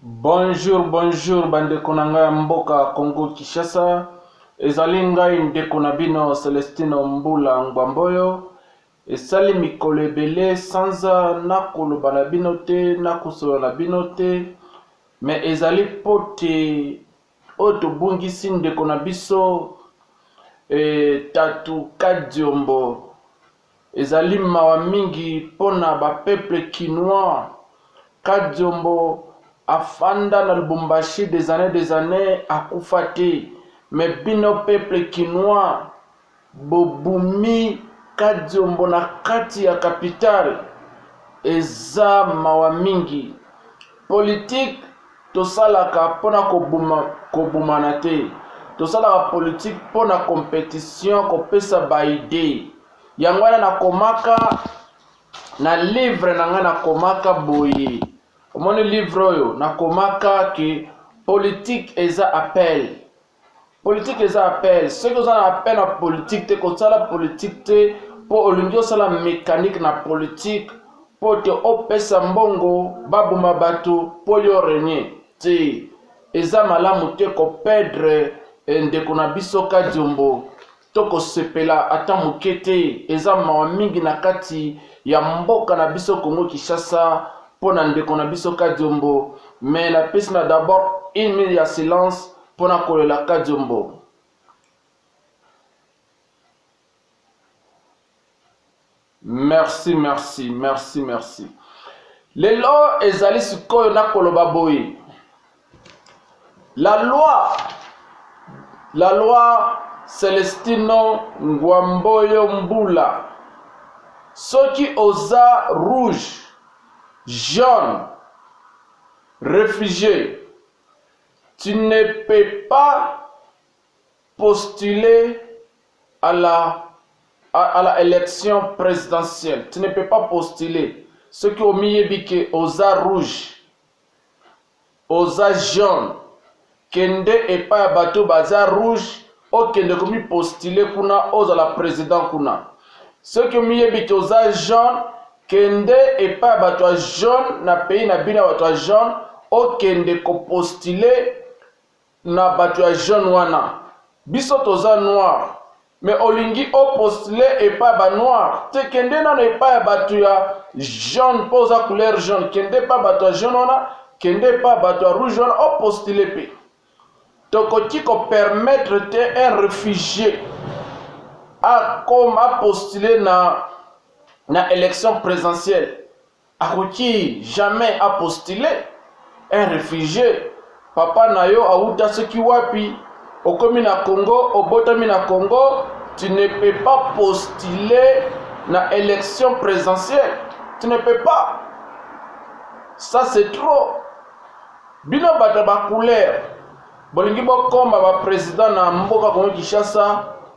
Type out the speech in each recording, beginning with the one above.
Bonjour bonjour bandeko na ngai ya mboka Congo Kinshasa, ezali ngai ndeko na bino Celestino Mbula Ngbamboyo. Esali mikolo ebele sanza nakoloba na bino te, nakosolola na bino te, me ezali mpo te oyo tobungisi ndeko na biso e, Tatu Kadiombo Ezali mawa mingi pona ba peuples kinois. Kadiombo afanda na Lubumbashi des annees des annees akufa te mais bino peuples kinois bobumi Kadiombo na kati ya capitale. Eza mawa mingi. Politique tosalaka mpo na koboma kobomana te tosalaka politike mpo na competition kopesa baide yango wana nakomaka na livre na ngai nakomaka boye omoni livre oyo nakomaka ke politike eza appel Politique eza appel. Soki oza na appel na politique te, kosala politique te, mpo olingi osala mécanique na politique mpo te opesa mbongo baboma bato mpo yo renie te. Eza malamu te kopedre eh, ndeko na biso Kadiombo. tokosepela ata moke te. Eza mawa mingi na kati ya mboka na biso Congo Kinshasa mpo na ndeko na biso Kadiombo, mais napesi na d'abord une minute ya silence mpo na kolela Kadiombo. Merci, merci, merci, merci. Lelo ezali sikoyo na koloba boye. La loi, la loi Celestino Ngwamboyo Mbula. Soki oza rouge, jaune, réfugié, tu ne peux pas postule à la à, à la election presidentielle tu ne peux pas postuler soki omiyebi ke oza rouge oza jaune kende epai ya bato baza rouge okende komipostile kuna ozala president kuna soki omiyebi te oza jaune kende epai ya bato ya jaune na pays na bino ya bato ya jaune okende kopostile na batu ya jaune wana biso toza noir mais olingi o postule epa ba noir te kende nano epa ya batu ya jaune po oza couleur jaune kende epa batu ya jaune wana kende epa batu ya rouge wana o postule pe tokoki ko permettre te un réfugié akoma postule na na élection présidentielle Akoki jamais a postuler un refugie papa na yo awuta soki wapi okomi na Congo obotami na Congo tu ne peux pas postuler na election présidentielle tu ne peux pas ça c'est trop bino bato ba couleur bolingi bokoma ba president na mboka Congo Kinshasa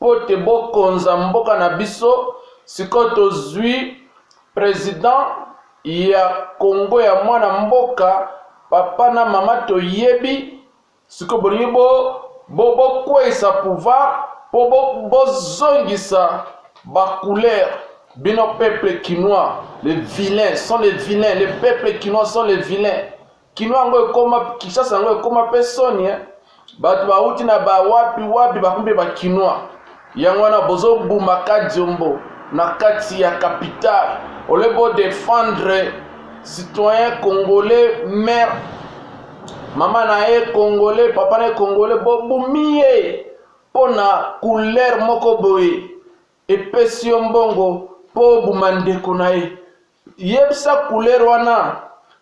mpo te bokonza mboka na biso sikoyo tozwi president ya congo ya mwana mboka papa na mama toyebi sikoyo bolingi bokweisa bo, bo pouvoir mpo bozongisa bo bacouleur bino peuple kinois les vilains sont les vilains les peuples kinois sont les vilains Kino yango ekoma Kinshasa yango ekoma pe soni hein. Bato bauti na ba wapi wapi bakumbe ba kinois. Yango wana bozo buma Kadiombo na kati ya capitale ole bo defendre citoyen congolais mère mama na ye congolais papa na ye congolais bobumi ye mpo na couleur moko boye epesi yo mbongo mpo obuma ndeko na ye Yebisa couleur wana.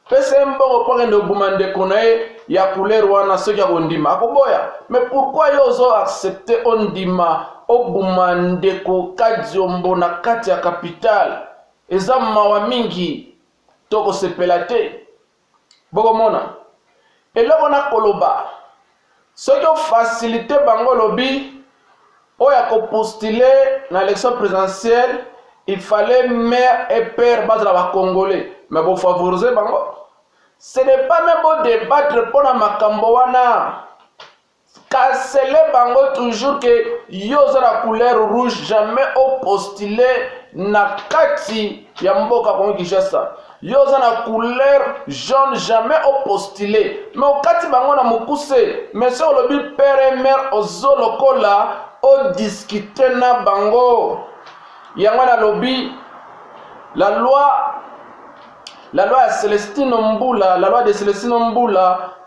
Pesa ye mbongo mpo akende koboma ndeko na ye ya couleur wana soki akondima. Akoboya. Mais pourquoi yo ozo accepter ondima oboma ndeko Kadiombo na kati ya capitale? Eza mawa mingi. Tokosepela te. bokomona eloko na koloba soki ofasilite bango olobi oyo akopostile na élection présidentielle il fallait mère et père bazala bacongolais me bofavorise bango ce n'est pas me bodebattre mpo na makambo wana Cancele bango toujours que yo oza na couleur rouge jamais o postule na kati ya mboka Congo Kinshasa. Yo oza na couleur jaune jamais o postule mais okati bango na mokuse mais so olobi père et mère ozo lokola o discute na bango yango nalobi la loi la loi ya Celestino Mbula la loi de Celestino Mbula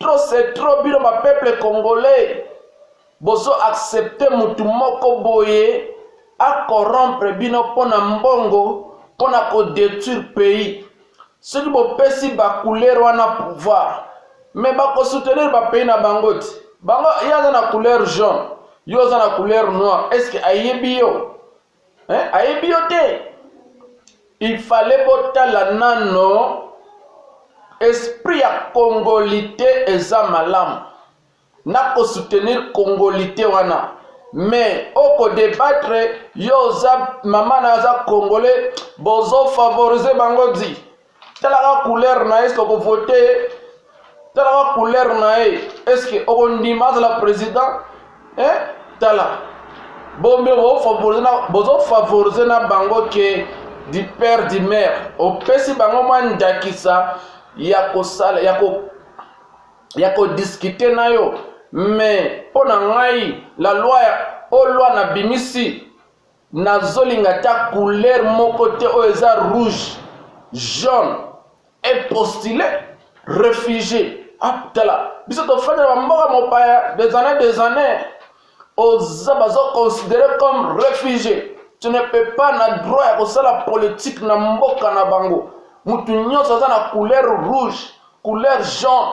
Trop c'est trop bino ba peuple congolais bozo accepter mutu moko boye a corrompre bino pona mbongo pona ko detruire pays soki bopesi ba couleur wana pouvoir me bakosoutenir bapays na bango te bango ye aza na couleur jaune yo oza na couleur noire estce ayebi yo hein? ayebi yo te il fallait botala nano esprit ya congolite eza malamu na kosoutenir congolite wana mais okodebattre yo oza mama na aza congolais bozofavorize bango di talaka couleur na ye soko vote talaka couleur na ye estce okondima azala président eh? tala bombe bozofavorize na bango ke du père du mère opesi bango mwa ndakisa ya kosala ya ko ya kodiskute na yo me mpo na ngai la loi ya olwa na bimisi nazolinga ta couleur moko te oyo eza rouge jaune epostule refugie atala ah, biso tofanda na bamboka mopaya des années des années oza bazoconsidere comme refugie tu ne peux pas na droit ya kosala politique na mboka na bango motu nyonso aza na couleur rouge couleur jaune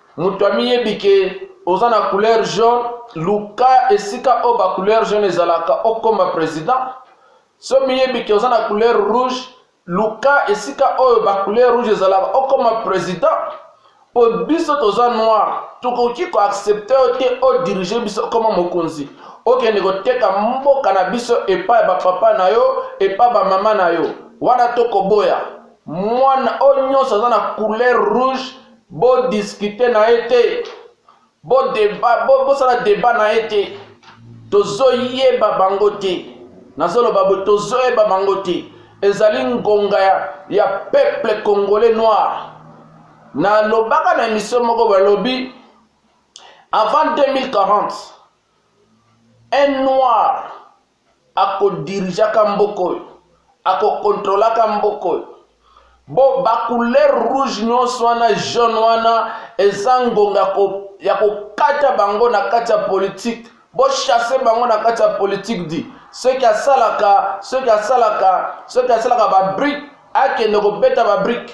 Moto amiyebi ke oza na couleur jaune, luka esika oyo ba couleur jaune ezalaka okoma president. So miyebi ke oza na couleur rouge, luka esika oyo ba couleur rouge ezalaka okoma president. Po biso toza noir, tokoki ko accepter yo te o diriger biso okoma mokonzi. Okende koteka mboka na biso epai ya ba papa na yo, epai ba mama na yo. Wana tokoboya. Mwana oyo nyonso aza na couleur rouge Bo discuter na ye te. Bo debat, bo bosala debat na ye te. Tozoyeba bango te. Nazoloba bo tozoyeba bango te. Ezali ngonga ya, ya peuple congolais noir. Nalobaka na emission moko balobi avant 2040 un noir akodirigaka mboka oyo akokontrolaka mboka oyo bo bacouleur rouge nyonso wana jaune wana eza ngonga ko, ya kokata bango na kati ya politike bochasse bango na kati ya politike di soki asalaka soki asalaka soki asalaka babrike akende kobeta babrike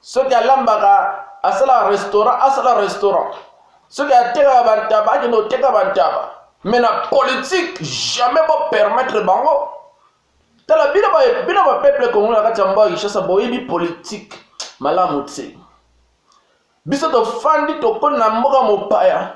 soki alambaka asala restaurant asala restaurant soki atekaka bantaba akende koteka bantaba mais na politique jamais bopermettre bango tala bino bino bapeuple kongo na kati ya mboka kinshasa boyebi politique malamu te biso tofandi tokoni na mboka mopaya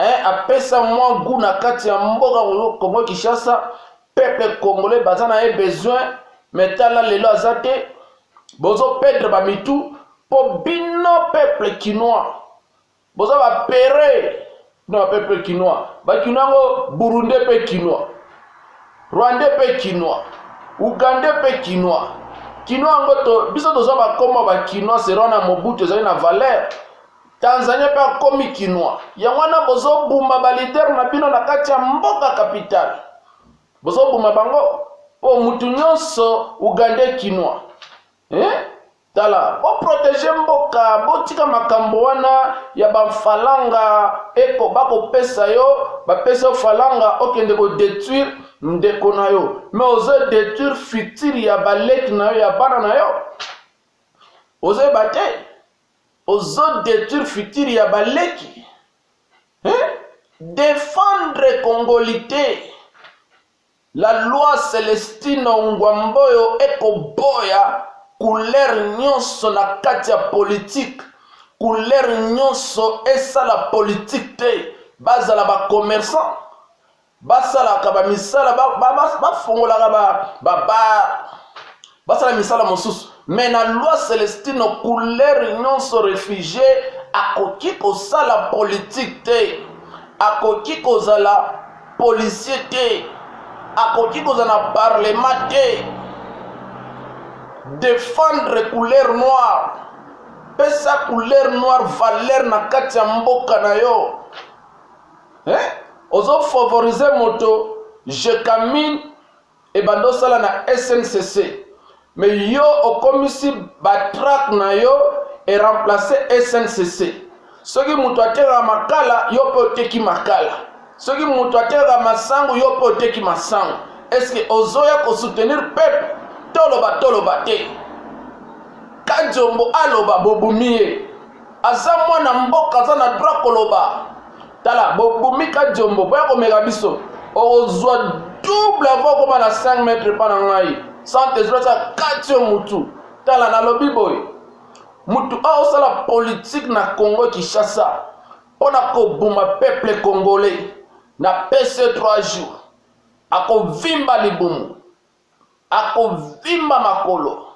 eh, apesa mwa gout na kati ya mboka Congo Kinshasa peuple congolais baza na ye besoin mais tala lelo aza te bozo perdre ba mitu po bino peuple kinois boza ba pere bino ba peuple kinois ba kinois yango burundais pe kinois rwandais pe kinois ugandais pe kinois kinois yango to biso toza bakoma ba kinois serona mobutu ezali na valeur Tanzania mpe akomi kinois. Yango wana bozobuma ba leader na bino na kati ya mboka capitale, bozobuma bango mpo mutu nyonso ugandais kinois eh? tala boprotege mboka botika makambo wana ya bafalanga eko bakopesa yo bapesa yo falanga okende kodetruire ndeko na yo me ozo detruire future ya baleki na yo ya bana na yo ozoyeba te Ozo detruire futur ya ba leki hein? Defendre congolite La loi Celestino Ngwamboyo eko boya couleur nyonso na kati ya politique couleur nyonso esala politique te bazala ba commerçant basalaka bamisala bafongolaka ba, ba, ba, basala misala mosusu me na loi celestino couleur nyonso refugie akoki kosala politike te akoki kozala policier te akoki kozala na parlement te defendre couleur noire pesa couleur noire valeur na kati ya mboka na yo eh? ozo favoriser moto jecamine ebanda osala na sncc me yo okomisi batrake na yo eremplace sncc soki moto atekaka makala yo mpe oteki makala soki moto atekaka masangu yo mpe oteki masangu eske ozoya kosoutenir peple toloba toloba te kajombo aloba bobumi ye aza mwana mboka aza na droit koloba tala bobomika jombo boya komeka biso okozwa double avo okoma na 5 mètre mpa na ngai sante ezolaki akati yo motu tala nalobi boye motu oyo osala politike na congo kinshasa mpo na koboma peuple congolais na pc 3 jours akovimba libumu akovimba makolo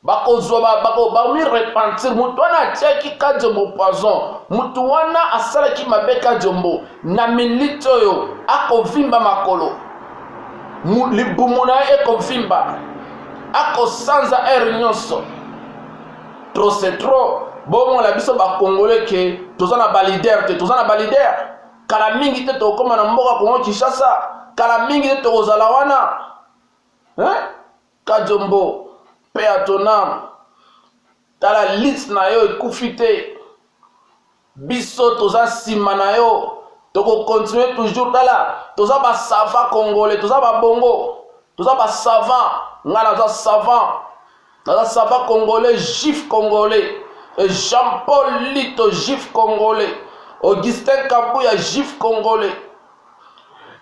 bakozwa bakomi repentir motu wana atiaki kajombo poison motu wana asalaki mabe kajombo na minute oyo akovimba makolo libumu na ye ekovimba akosanza heure nyonso trop c'est trop bomona biso bakongole ke toza na balider te toza na balider kala mingi te tokokoma na mboka kongo kinshasa kala mingi te tokozala wana hein? Kadiombo paix à ton âme. Tala liste na yo ekufi te. Biso toza sima na yo. Toko continuer toujours tala toza ba savant congolais, toza ba bongo, toza ba savant. Nga naza savant. Naza savant congolais, juif congolais. Et Jean-Paul Lito juif congolais. Augustin Kabuya juif congolais.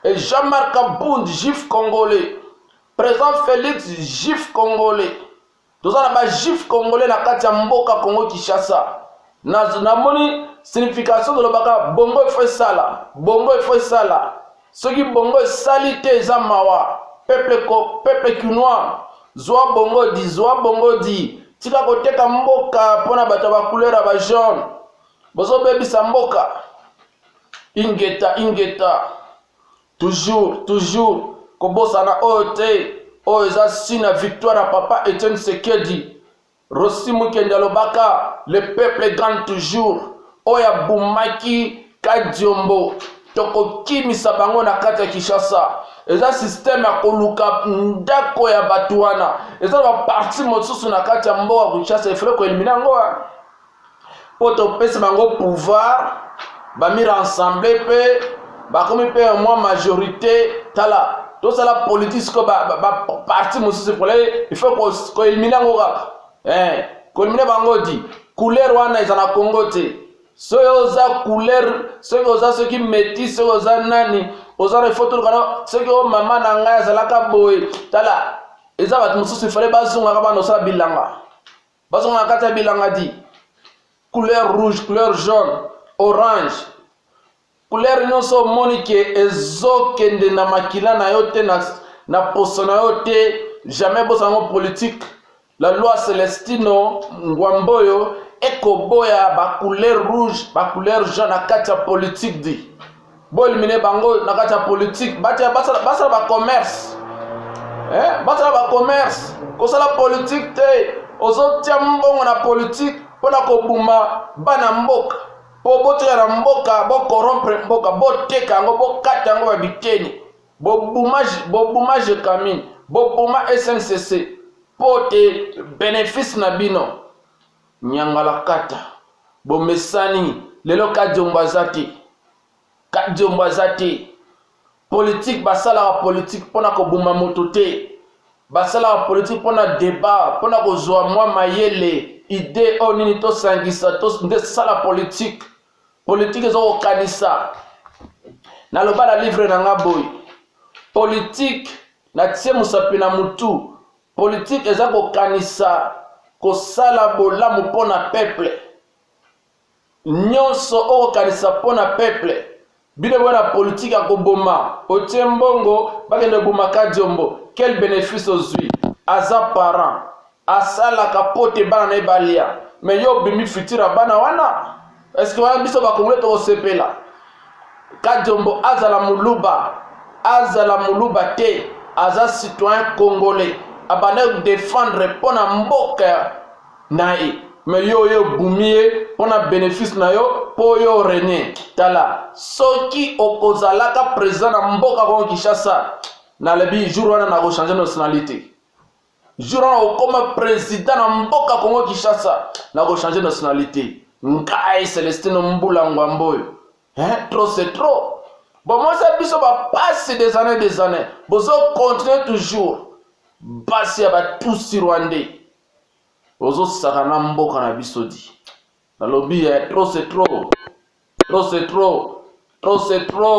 Et Jean-Marc Abund juif congolais. President Felix juif congolais. Toza na ba juif congolais na kati ya mboka Congo Kinshasa. Na namoni signification tolobaka bongo efo esala, bongo efo esala. Soki bongo esali te eza mawa. Peuple ko peuple kinois zwa bongo di zwa bongo di tika koteka mboka mpo na bato ya bacouleur ya bajaune bozobebisa mboka ingeta ingeta Toujours, toujours, kobosana oyo te, oyo eza signe ya victoire ya papa Etienne Sekedi. Rossi Mukende alobaka le peuple gagne toujours. Oyo abumaki Kadiombo tokokimisa bango na kati ya Kinshasa. Eza système ya koluka ndako ya bato wana. Eza na baparti mosusu na kati ya mboka Kinshasa efale koelimina yango. mpo topesa bango pouvoir bami rassemble mpe bakomi mpe mwa majorité tala tosala politique sikoyo baparti mosusu pole il faut koelimine yango kaka eh, koelimine bango di couleur wana eza na congo te soki oza couleur soki oza soki meti soki oza nani oza na ifo tolukana soki o mama na ngai azalaka boye tala eza bato mosusu ifale bazongaka bana osala bilanga bazonga na kati ya bilanga di couleur rouge couleur jaune orange couleur nyonso omoni ke ezokende na makila na yo te na, na poso na yo te jamais bosango politique la loi celestino ngwamboyo ekoboya bacouleur rouge bacouleur jaune na kati ya politique di Bo éliminer bango na kati ya politique, batia basala basala ba commerce. Eh, basala ba commerce, kosala politique te. Ozotia mbongo na politique mpona kobuma bana mboka mpo botoya na mboka bokorompre mboka boteka yango bokata yango ba biteni bobuma jekamine bobuma sncc mpo te benefice na bino Nyangalakata bomesani lelo kadiombo aza te kadiombo aza te politike basalaka politike mpo na koboma moto te basalaka politike mpo na debat mpo na kozwa mwa mayele ide oyo nini tosangisa to, nde sala politike politike eza kokanisa naloba na livre na nga boye politike natie mosapi na motu Politique eza kokanisa kosala bolamu mpo na peuple. Nyonso okokanisa mpo na peuple. Bino boya na politique ya koboma, otie mbongo bakende koboma Kadiombo. Quel benefice ozwi? Aza parent, asalaka mpo te bana na ye balia, mais yo obimi futur ya bana wana. eske wana biso bakongole tokosepela kadiombo azala muluba azala muluba te aza citoyen congolais abanda kodefendre mpo na mboka na ye me yo oyo obumi ye mpo na bénéfice na yo mpo yo rene tala soki okozalaka président na mboka kongo kinshasa nalobi jour wana nakochange nationalité jour wana okoma president na mboka congo kinshasa na kochange nationalité ngai celestino mbula ngwambo oyo eh, trop c'est trop bomosa biso bapasi des années des années bozo continue toujours basi ya batusi rwandais ozosaka na mboka na biso di nalobi ya eh, trop c'est trop trop c'est trop trop c'est trop